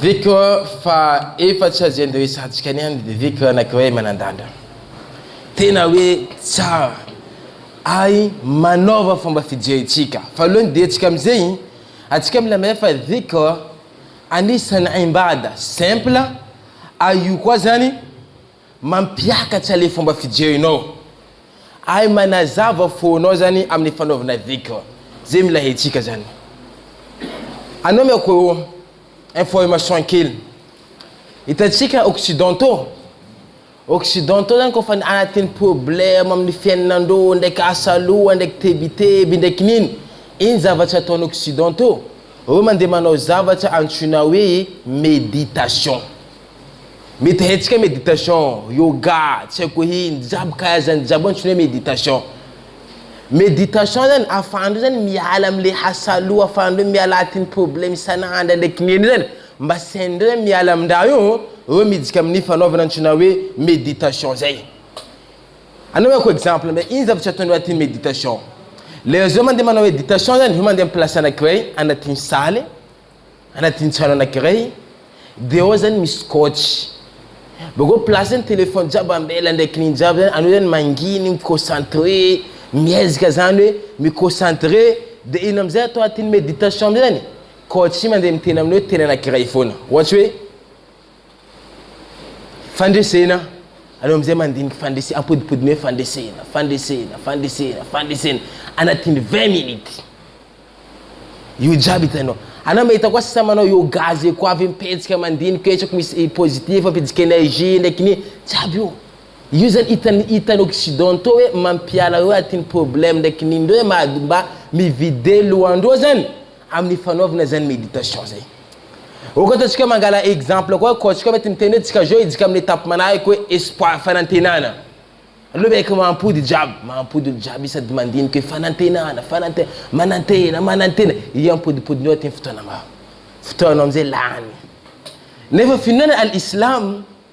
Viko fa efa tsy azo iandohesantsika ny any dia Viko anankiray manandanja. Tena hoe tsara ary manaova fomba fijerintsika. Faharoa ny diantsika amin'izay, antsika mila mahay fa Viko anisan'ny aim-bada simple ary io koa izany, Mampiakatra le fomba fijerinao ary manazava fonao zany amin'ny fanaovana dhikr ze mila hetsika zany. Anomeko information kely, hitantsika occidentaux, occidentaux zany kôfa anatin'ny problème amin'ny fiainanandreo ndraiky asa loha ndraiky tebiteby ndraiky nino, ino zavatra ataon'ny occidentaux? Reo mandeha manao zavatra antsoina hoe méditation. Mety hetsika meditation, yoga, tsy haiko hoe ino, jiaby ka zany jiaby antsoina hoe meditation. Meditation zany afahanareo zany miala amle hasaloha, afahanareo miala atin'ny problème isan'andro ndray kinenin zany mba tsy hainareo zany miala amin-draha io, reo midika amin'ny fanaovana antsoina hoe meditation zay. Anaovako exemple ndray, ino zavatra ataonareo atin'ny meditation? Lera zao mandeha manao meditation zany, zao mandeha amin'ny place anakiray anatin'ny salle, Anadino tsara anakiray de ao zany misy scotch bakeo place zany telephone jiaby ambela ndraiky nigny jiaby zany anao zany manginy mi concentre miezaka zany hoe mi concentre de ino amizay atao atiny meditation amizay zany coach mande miteny aminao teny anakiray fona ohatry hoe Fandresena, aleo amin'izay mandinika fandresena, ampodipodiny hoe fandresena, fandresena, fandresena, fandresena, anatin'ny vingt minutes. Io jiaby hitanao. Anao mahita koa sisa manao yoga zay koa avy mipetsika mandinika hoe tsako misy eh, positif, ampidika energie, ndraiky ny jiaby io. Io zany hitan'ny hitan'ny occidentaux hoe mampiala hoe atin'ny problème ndraiky ny ndreo hoe mba mivide lohandreo zany. amin'ny fanaovana izany méditation zay. Ok ataontsika mangala exemple koa koa tsika mety miteny hoe tsika zao hidika amin'ny étape manahaka hoe espoir fanantenana. Aleo miaiky mampody jiaby, mampody olo jiaby io sady mandinika hoe fanantenana, fanantena, manantena, manantena, io ampodipodinao aty ny fotoananao, fotoanao amizay lany. Nefa finoana al islam.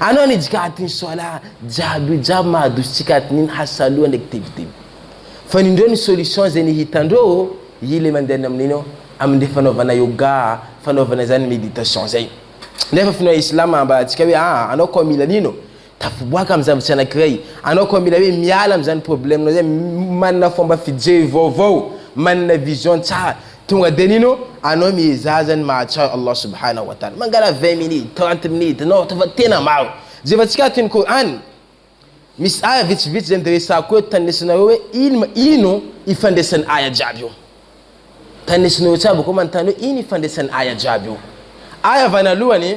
Anao ny jikati ny soala jiaby io jiaby mahadoso tsikati ny ny hasaloa ndraiky tebiteby. Fa ny ndreo ny solution ze ny hitandreo ô i le mandeha ny amin'iny ô amin le fanaovana yoga fanaovana izany meditation zay. Nefa finoa islam ambara antsika hoe aa anao koa mila an'ino? Tafiboaka amin'ny zavatsy anakiray. Anao koa mila hoe miala amin'izany problème nao zay manana fomba fijery vaovao manana vision tsara Tonga de nino anao miezaha zany mahatsiaro Allah subhanahu wa ta'ala mangala vingt minutes trente minutes non ataova tena maro zeva tsika ato ny Qur'an misy aya vitsivitsy zany de resako eto tanisinareo hoe ino ino ifandraisan'ny aya jiaby io tanisinareo tsara bakeo manontany hoe ino ifandraisan'ny aya jiaby io aya vanalohany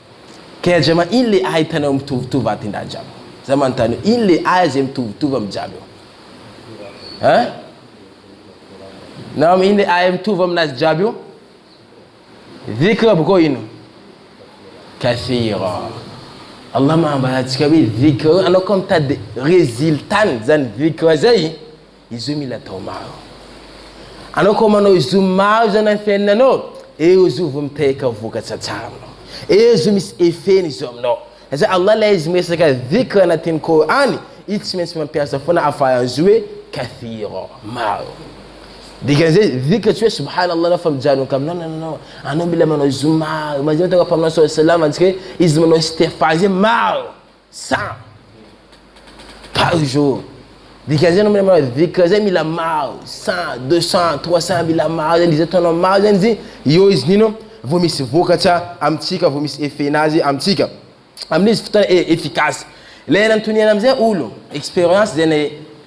Kay aza ma ino le ahy itanao mitovitovy aty ndahy jiaby za manontany eo ino le ahy zay mitovitovy am jiaby eo hein nam ino le ahy mitovy aminazy jiaby io dhikr boko ino kathira Allah manambara antsika hoe dhikr anao koa mitady résultat ny zany dhikr zay Izy io mila atao maro. Anao koa manao izy io maro izany amin'ny fiainanao, eo izy io vao miteraka vokatra tsara aminao. Eo izy io misy effet-ny izy io aminao. Izay Allah ilay izy miresaka dhikr anatin'ny Kor'any, izy tsy maintsy mampiasa foana afaran'izy io hoe kathira, maro. Dikan'izay dhikr tsy hoe subhana Allah anao fa mijanoka aminy, non non non, anao mila manao izy io maro. Manjary mahita anao Mpaminany saw salama antsika hoe izy manao istighfar izay maro. Cent par jour dika zay namana manao dhikr zay mila maro cent deux cent trois cent mila maro zany izy ataonao maro zany izy eo izy nino vao misy vokatra amintsika vao misy effet nazy amintsika amin'izy fotoana efficace lay anatoniana amizay olo experience zay na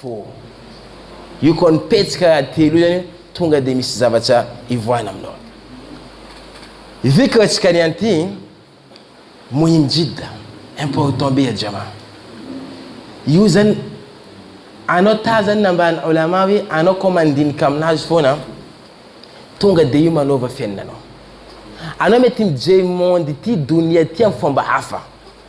fo. Io koa ny petsaka telo io zany tonga dia misy zavatra ivoahana aminao. Dhikr tsika ny anty muhim jidda, important be ajama. Io zany anao tazany nambaran'ny ulama hoe anao koa mandinika aminazy foana tonga dia io manova fiainanao. Anao mety mijery monde ity donia ity amin'ny fomba hafa.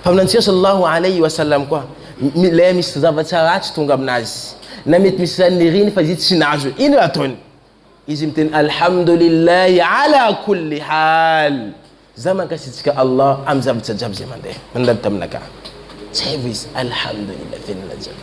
Mpaminantsika Sallallahu Alayhi wa Sallam koa Ilay misy zavatra ratsy tonga amin'azy, na mety misy izany niriny fa izy tsy nahazo, inona ataony? Izy miteny Alhamdoulillahi Ala Koulli Hal, za mankasitraka Allah amin'ny zavatra jiaby izay mandeha, mandalo taminakahy. Zay vao izy Alhamdoulillahi, velona jiaby.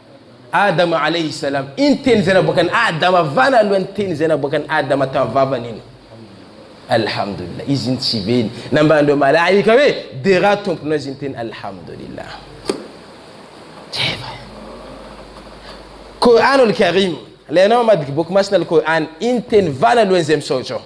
Adama alaihi salam, iny teny izay naboakan'i Adama vana alohan'ny teny izay naboakan'i Adama tamin'ny vavany iny. Alhamdulillah, izy iny tsy be iny. Nambaran'ireo malaika hoe, dera Tomponao izy iny teny Alhamdulillah. Jaiba. Qur'anul Karim, ilay anao mamadika boky masina Al-Qur'an, iny teny vana alohan'izay misaotra aho.